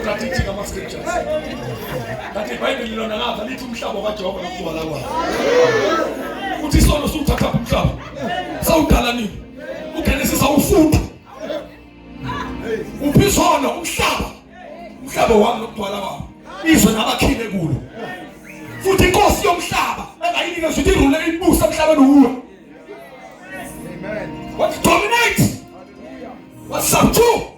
Strategic ama scriptures. Kanti iBhayibheli lona ngapha lithi umhlaba kaJehova nokugcwala kwawo. Uthi isono siwuthatha umhlaba. Sawudala nini? UGenesis awufunda. Uphi isono umhlaba? Umhlaba wami nokugcwala kwawo. Izwe nabakhile kulo. Futhi inkosi yomhlaba engayinike futhi irule ibusa emhlabeni uwe. Amen. What dominate? What subdue?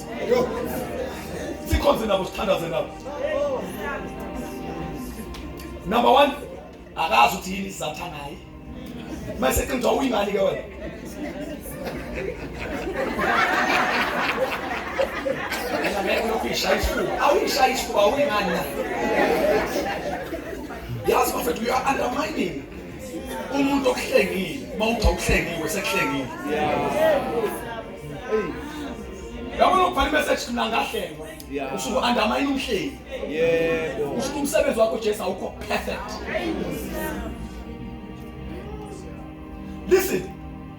sikhonze nabo sithandaze nabo number one akazi ukuthi yini isizathu anaye mase qinja uyingani ke wena ngeke lokuyishaya isifuba awuyishaya isifuba awuyingani na yazi bafethu you are undermining umuntu okuhlengile uma uthi awuhlengiwe sekuhlengile yabona ukubhala imeseji mina ngahlengwa usuke andamayini umhleli usuke umsebenzi wakho jesu awukho perfect listen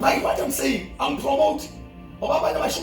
by what i'm saying i'm promoting ngoba abantu abashimala